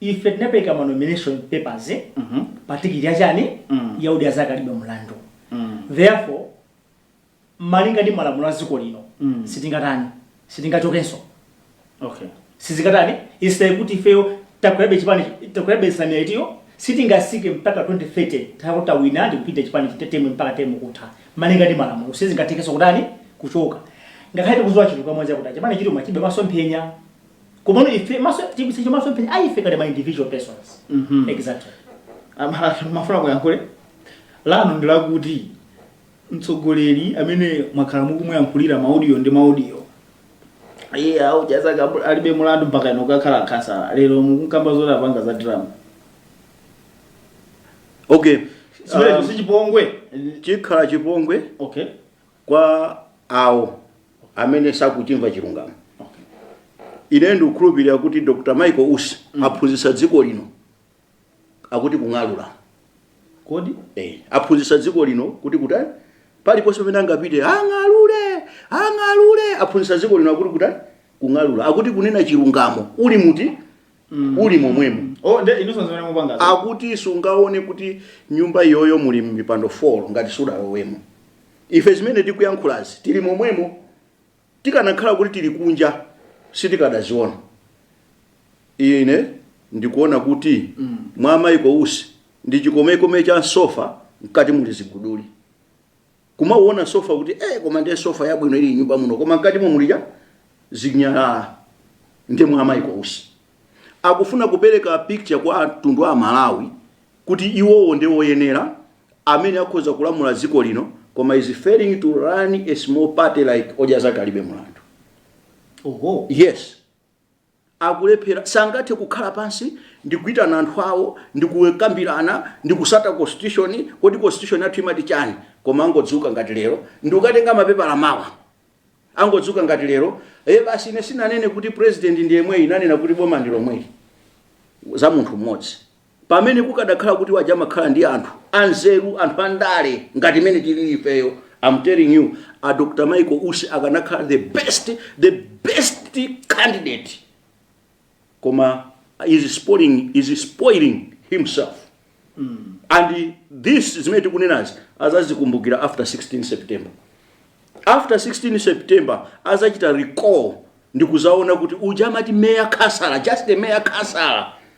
Ife tinapeleka ma nomination papers pa ticket ya chani? Ya Odya Zake Alibe Mulandu. Therefore, malinga ndi malamulo a dziko lino, sitingatani, sitingachokenso. Sizingatani, it's like kuti ifeyo takwerabe chipani, takwerabe nsanamira itiyo, sitingatsike mpaka 2030 titakhala kuti tawina ndi kupita chipani chita term mpaka term kutha. Malinga ndi malamulo, sizingathekenso kutani, kuchoka. Ngakhale tikudziwa chilungamo chakuti chipani chija chilibe masomphenya. komano ife masomphenya athu masomphenya a ife ngati ma individual persons Mhm. exactly Ama- mafuna kuyankhula pano ndilakuti mtsogoleri amene mwakhala mukumuyankhulira maudio ndi maudio a Odya Zake Alibe Mulandu mpaka inu kukhala a Khasala lero mukunkamba zoti apanga za drama okay simenecho um, sichipongwe chikhala chipongwe okay kwa awo amene sakuchimva chilungamo ine ndikukhulupirira kuti Dr Michael Usi aphunzitsa dziko lino akuti kung'alula kodi Eh, aphunzitsa dziko lino kuti kutani paliponse pamene angapite ang'alule aphunzitsa dziko lino akuti kutani kung'alula akuti kunena chilungamo uli muti Mm. uli momwemo Oh, nde inunso nzimene mupangazo. akuti sungaone kuti nyumba iyoyo muli mipando 4 ngati sudalowemo ife zimene tikuyankhulazi tili momwemo tikanakhala kuti tili kunja sitikadaziona ine ndikuona kuti Mm. mwa Michael Usi ndi chikomekome cha sofa mkati muli ziguduli kumauona sofa kuti eh, koma ndiye sofa yabwino ili nyumba muno koma mkati mo mulija zinyalala nde mwa a Michael Usi akufuna kupereka picture kwa mtundu wa aMalawi kuti iwowo ndi woyenera amene akhoza kulamula dziko lino koma he's failing to run a small party like Odya Zake Alibe Mulandu oho yes akulephera, sangathe kukhala pansi ndi kuitana anthu awo ndi kukambirana ndi kutsata constitution, kodi constitution yathu imati chani, koma angodzuka ngati lero ndi kukatenga mapepala mawa, angodzuka ngati lero, ee basi ine sinanene kuti president ndi yemweyi ndinanena kuti boma ndi lomweli, za munthu mmodzi. pamene kukadakhala kuti aja amakhala ndi anthu anzeru anthu andale ngati mmene tilili ifeyo I'm telling you a Dr Michael Usi akanakhala the best the best candidate koma he's spoiling, he's spoiling himself and this zimene tikunenazi adzazikumbukira after 16 september after 16 september adzachita recall ndikudzaona kuti uja amati mayor Khasala just a mayor Khasala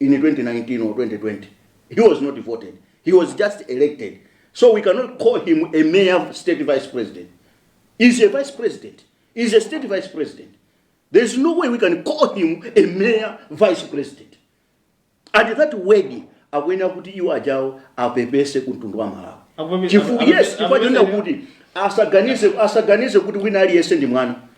in 2019 or 2020 he was not voted he was just elected so we cannot call him a mere state vice president is a vice president is a state vice president there is no way we can call him a mere vice president and that word akuyenera kuti iwo ajawo apepese ku mtundu wa Malawi Akuvomereza- Chifu- akuvomereza- yes chifukwa chonena kuti asaganize asaganize kuti wina aliyense ndi mwana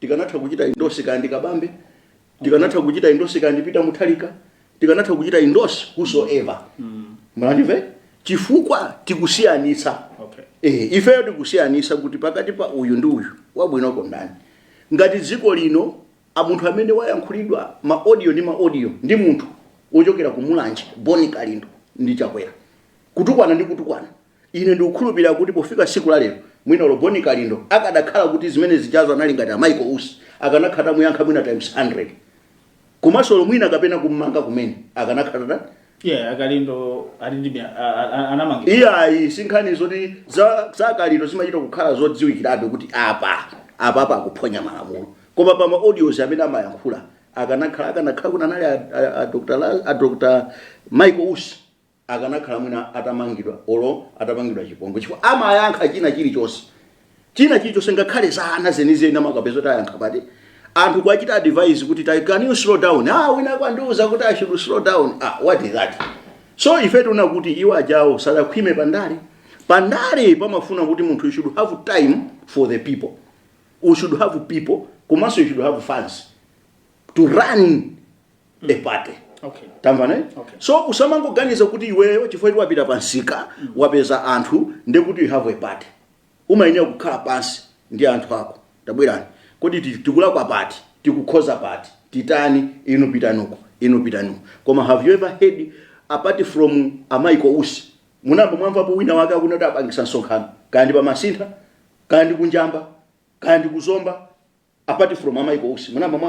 tikanatha kuchita endorse kaya ndi kabambe tikanatha kuchita endorse kaya ndi Peter Mutharika tikanatha kuchita endorse whosoever mwandive chifukwa tikusiyanitsa Okay. eh, ifeyo tikusiyanitsa kuti pakati pa uyu ndi uyu wabwinoko ndani ngati dziko lino a munthu amene wayankhulidwa ma audio ndi ma audio ndi munthu wochokera ku Mulanje Bon Kalindo ndi Chakwera kutukwana ndi kutukwana Ine ndikukhulupirira kuti pofika tsiku la lero, mwina olo Bon Kalindo akadakhala kuti zimene zijazo anali ngati a Michael Usi, akanakhala atamuyankha mwina times 100. Komanso olo mwina kapena kummanga kumene, akanakhala atani? Yeah, a Kalindo ali ndi mya- a- a- a- anamangidwa. iyayi sinkhani zoti za, za Kalindo zimachita kukhala zodziwikirabe kuti apa apapa akuphonya malamulo koma pa ma audios amene amayankhula akanakhala akanakhala kuti anali a, a, a, Dr. La- a Dr. Michael Usi akanakhala mwina atamangidwa olo atapangidwa chipongwe chifukwa amayankha china chilichonse china chilichonse ngakhale za wana zenizeni amakapeza kuti ayankha pati anthu kuwachita advise kuti "Tai- can you slow down ah wina kwandiuza kuti i should slow down ah what is that so ife tikuona kuti iwo ajawo sadakhwime pandale pandale pamafuna kuti munthu you should have time for the people you should have people komanso you should have funds to run a party Okay. tamvana eh? Okay. so usamangoganiza kuti iweyo chifukwa kuti wapita pansika wapeza anthu ndiye kuti you have a party umayenera kukhala pansi ndi anthu ako tabwerani kodi ti- tikulakwa pati tikukhoza pati titani inu pitanuko inu pitanuko koma have you ever heard apart from a Michael Usi munayamba mwamvapo wina wake akunena kuti apangisa msonkhano kaya ndi pa Masintha kaya ndi ku Njamba kaya ndi ku Zomba apart from a Michael Usi munayamba mwa